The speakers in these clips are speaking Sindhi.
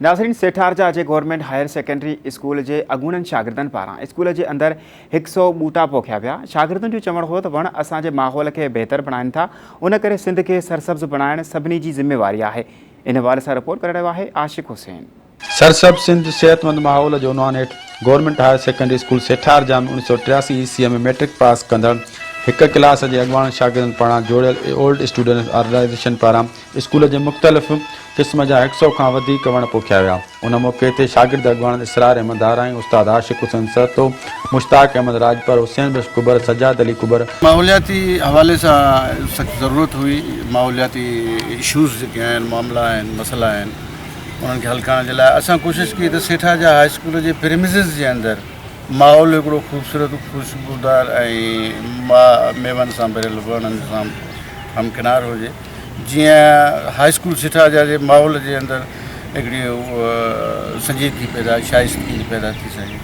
ناظرين سيٺارجا جي گورنمينٽ هائير سيڪنڊري اسڪول جي اڳوڻن شاگردن پاران اسڪول جي اندر هڪ سئو ٻوٽا پوکيا ويا شاگردن جو چوڻ هو ته وڻ اسان جي ماحول کي بهتر بڻائين ٿا ان ڪري سنڌ کي سرسبز بڻائڻ سڀني جي ذميواري آهي ان حوالي سان رپورٽ ڪري رهيو آهي عاشق حسين. سرسبز سنڌ صحتمند ماحول جي عنوان هيٺ government higher secondary school Setharja ۾ اوڻيھ سئو ٽياسي عيسويء ۾ مئٽرڪ پاس ڪندڙ هڪ ڪلاس جي اڳواڻن شاگردن پاران جوڙيل اي اولڊ اسٽوڊنٽس آرگنائيزيشن پاران اسڪول جي مختلف قسم جا هڪ سئو کان وڌيڪ وڻ پوکيا ويا. ان موقعي تي شاگرد اڳواڻ اسرار احمد ڌار ۽ استاد عاشق حسين سهتو، مشتاق احمد راڄپر، حسين بخش ڪٻر، سجاد علي ڪٻر، ماحولياتي حوالي سان سخت ضرورت هئي ماحولياتي اشوز جيڪي آهن معاملا آهن مسئلا آهن انهن کي حل ڪرڻ جي لاء اسان ڪوشش ڪئي ته سيٺا جا هاء اسڪول جي پريمسز جي اندر ماحول هڪڙو خوبصورت خوشبودار ۽ ميون سان ڀريل وڻن سان همڪنار هجي جيئن هاء اسڪول سٺا جا جي ماحول جي اندر هڪڙي سنجيدگي پيدا شاعري سکي جي پيدا ٿي سگهي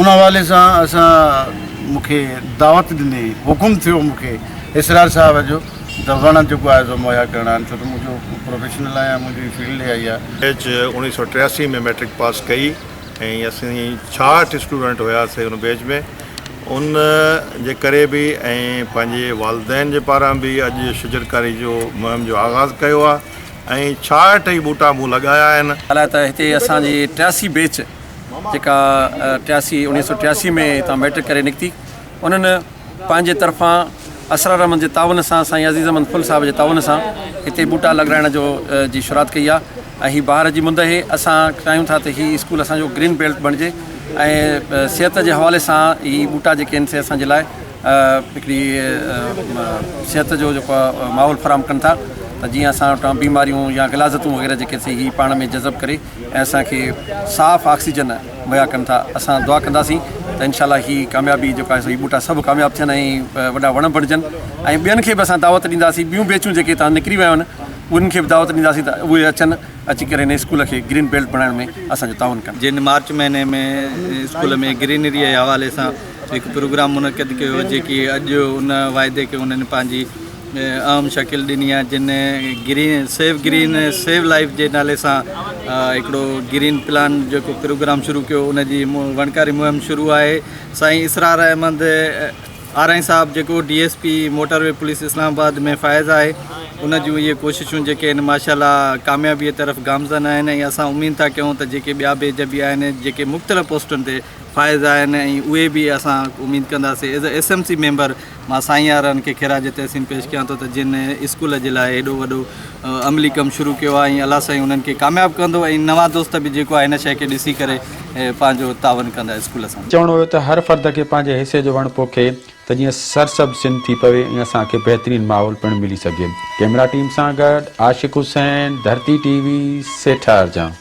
ان حوالي سان اسان مونکي دعوت ڏني حڪم ٿيو مونکي اسرار صاحب جو ته وڻ جيڪو آهي سو مهيا ڪرڻا آهن ڇو ته منهنجو پروفيشنل آهيان منهنجي فيلڊ اها ئي آهي. ايچ اوڻيهه سؤ ٽياسي ۾ مئٽرڪ پاس ڪئي ۽ اسين ڇاهٺ اسٽوڊنٽ هياسي ان بيچ ۾. ان جي ڪري به ۽ پنهنجي والدين جي پاران به اڄ شجرڪاري جو مهم جو آغاز ڪيو آهي ۽ ڇاهٺ ئي ٻوٽا مون لڳايا آهن. ھالا ته ھتي اسان جي ٽياسي بيچ جيڪا ٽياسي اوڻيھه سؤ ٽياسي ۾ ھتان ميٽرڪ ڪري نڪتي انھن پنھنجي طرفان اسرار احمد جي تعاون سان سائين عزيز احمد ڦل صاحب جي تعاون سان ھتي ٻوٽا لڳرائڻ جو جي شروعات ڪئي آ. ۽ هي بهار جي مند اهي اسان چاهيون ٿا ته هي اسڪول اسان جو گرين بيلٽ بڻجي ۽ صحت جي حوالي سان هي ٻوٽا جيڪي آهن سي اسان جي لاء هڪڙي صحت جو جيڪو آهي ماحول فراهم ڪن ٿا ته جيئن اسان وٽان بيماريون يا غلاظتون وغيره جيڪي سي هي پاڻ ۾ جذب ڪري ۽ اسان کي صاف آڪسيجن مهيا ڪن ٿا اسان دعا ڪنداسين ته انشاء الله هي ڪاميابي جيڪا آهي سو هي ٻوٽا سڀ ڪامياب ٿين ۽ وڏا وڻ بڻجن ۽ ٻين کي به اسان دعوت ڏينداسين ٻيون بيچون جيڪي هتان نڪري ويون آهن انهن کي به دعوت ڏينداسين ته اهي اچن اچي ڪري هن اسڪول کي گرين بيلٽ بڻائڻ ۾ اسان جو تعاون ڪن. جن مارچ مهيني ۾ اسڪول ۾ گرينري جي حوالي سان هڪ پروگرام منعقد ڪيو هو جيڪي اڄ ان واعدي کي انهن پنهنجي اهم شڪل ڏني آهي جن green save green save life جي نالي سان هڪڙو گرين پلان جيڪو پروگرام شروع ڪيو ان جي وڻڪاري مهم شروع آهي سائين اسرار احمد آرائين صاحب جيڪو D S P motorway police Islamabad ۾ فائز آهي ان جون اهي ڪوششون جيڪي آهن ماشا الله ڪاميابي طرف گامزن آهن ۽ اسان اميد ٿا ڪيون ته جيڪي ٻيا بيج به آهن جيڪي مختلف پوسٽن تي فائز آهن ۽ اهي به اسان اميد ڪنداسين as a S M C member مان سائين آرائين کي خراج تحسين پيش ڪيان ٿو ته جن اسڪول جي لاء هيڏو وڏو عملي ڪم شروع ڪيو آهي ۽ الله سائين انهن کي ڪامياب ڪندو ۽ نوان دوست به جيڪو آهي هن شيء کي ڏسي ڪري ۽ پنهنجو تعاون ڪندا اسڪول سان. چوڻو هيو ته هر فرد کي پنهنجي حصي جو وڻ پوکي ته جيئن سرسبز سنڌ ٿي پوي ۽ اسان کي بهترين ماحول پڻ ملي سگهي ڪيمرا ٽيم سان گڏ عاشق حسين ڌرتي ٽي وي سيٺارجان.